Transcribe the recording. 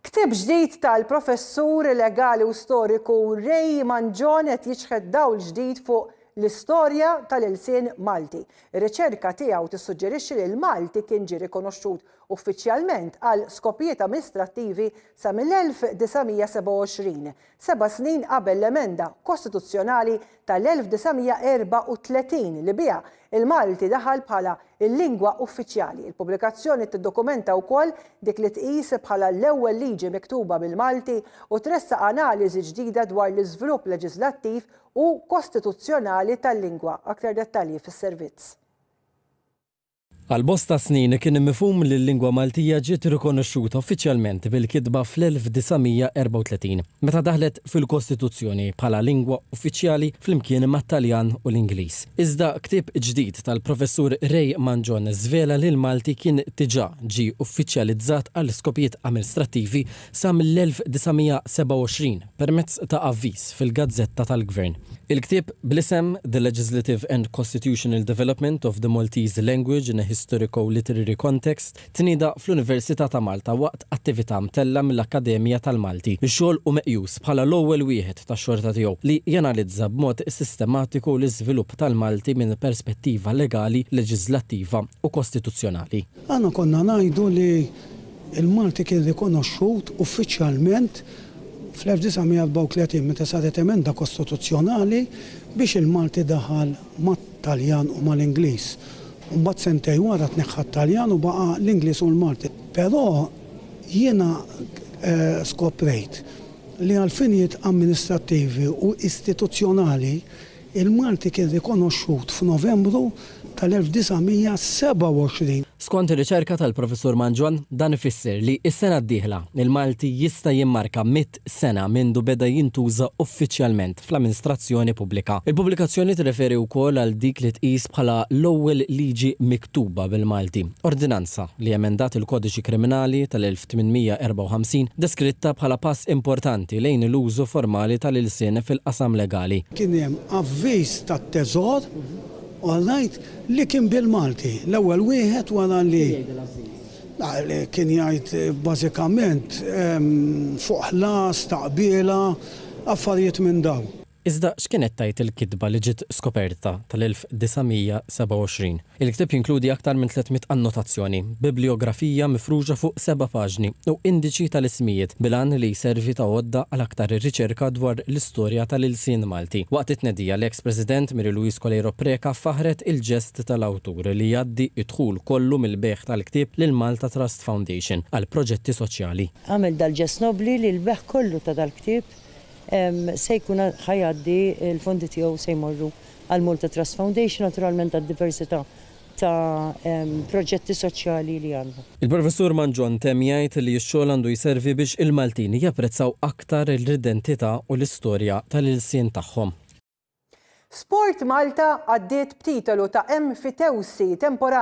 Ktieb ġdid tal-professur legali u storiku Ray Mangion qed jiċħed dawl ġdid fuq l-istorja tal-ilsien Malti. Ir-riċerka tiegħu tissuġġerixxi li l-Malti kien ġie rikonoxxut uffiċjalment għal skopijiet amministrattivi sa mill-1927, seba' snin qabel l-emenda kostituzzjonali tal-1934 li biha l-Malti daħal bħala l-lingwa uffiċjali. Il-pubblikazzjoni tiddokumenta wkoll dik li tqis bħala l-ewwel liġi miktuba bil-Malti u tressaq analiżi ġdida dwar l-iżvlupp leġiżlattiv u kostituzzjonali tal-lingwa, aktar dettalji fis-servizz. Għal bosta snin kien mifhum li l-lingwa Maltija ġiet rikonoxxuta uffiċjalment bil-kitba fl-1934, meta daħlet fil-Kostituzzjoni bħala lingwa uffiċjali flimkien mat-Taljan u l-Ingliż. Iżda ktieb ġdid tal-Professur Ray Mangion żvela li l-Malti kien diġà ġie uffiċjalizzat għal skopijiet amilstrattivi sa mill-1927 permezz ta' avviż fil-gazzetta tal-gvern. Il-ktieb bl-isem The Legislative and Costitutional Development of the Maltese Language in a Historico-Literary Context tnieda fl-Università ta' Malta waqt attività mtella' mill-Akkademja tal-Malti x-xogħol u meqjus bħala l-ewwel wieħed tax-xorta tiegħu li janalizza b'mod sistematiku l-iżvilupp tal-Malti minn perspettiva legali, leġiżlattiva u kostituzzjonali. Aħna konna ngħidu li Il-Malti kien rikonoxxut uffiċjalment fl-1934 meta saret emenda kostituzzjonali biex il-Malti daħal mat-Taljan u mal-Ingliż. Imbagħad sentejn wara tneħħa t-Taljan u baqa' l-Ingliż u l-Malti. Però jiena skoprejt li għall-finijiet amministrattivi u istituzzjonali, Il-Malti kien rikonoxxut f'Novembru tal-1927. Skont ir-riċerka tal-Professur Mangion, dan ifisser li s-sena d-dieħla, il-Malti jista' jimmarka mitt sena mindu beda jintuża uffiċjalment fl-amminstrazzjoni pubblika. Il-pubblikazzjoni tirreferi wkoll għal dik li tqis bħala l-ewwel liġi miktuba bil-Malti, ordinanza li emendat il-Kodiċi Kriminali tal-1900. 1854, deskritta bħala pass importanti lejn l-użu formali tal-ilsien fil-qasam legali. Kien hemm avviż tat-Teżor, all right, li kien bil-Malti, l-ewwel wieħed wara li kien jgħid bażikament fuq ħlas, taqbiela, affarijiet minn dawn. Iżda x'kienet tgħid il-kitba li ġiet skoperta tal-1927? Il-ktieb jinkludi aktar minn tliet mitt annotazzjoni, bibliografija mifruxa fuq seba' paġni u indiċi tal-ismijiet bil-għan li jservi ta' għodda għal aktar riċerka dwar l-istorja tal-ilsien Malti. Waqt it-tnedija, l-eks President Mary Louise Coleiro Preca faħħret il-ġest tal-awtur li jgħaddi d-dħul kollu mill-bejgħ tal-ktieb lill-Malta Trust Foundation għal proġetti soċjali. Għamel dal-ġest nobbli li l-bejgħ kollu ta' dal-ktieb se jkun ħa jgħaddi l-fondi tiegħu se jmorru għal Malta Trust Foundation naturalment għad-diversità ta' proġetti soċjali li għandha. Il-Professur Mangion temm jgħid li x-xogħol għandu jservi biex il-Maltin japprezzaw aktar l-identità u l-istorja tal-ilsien tagħhom. SportMalta għaddiet b'titolu ta' Emfitewsi temporanji.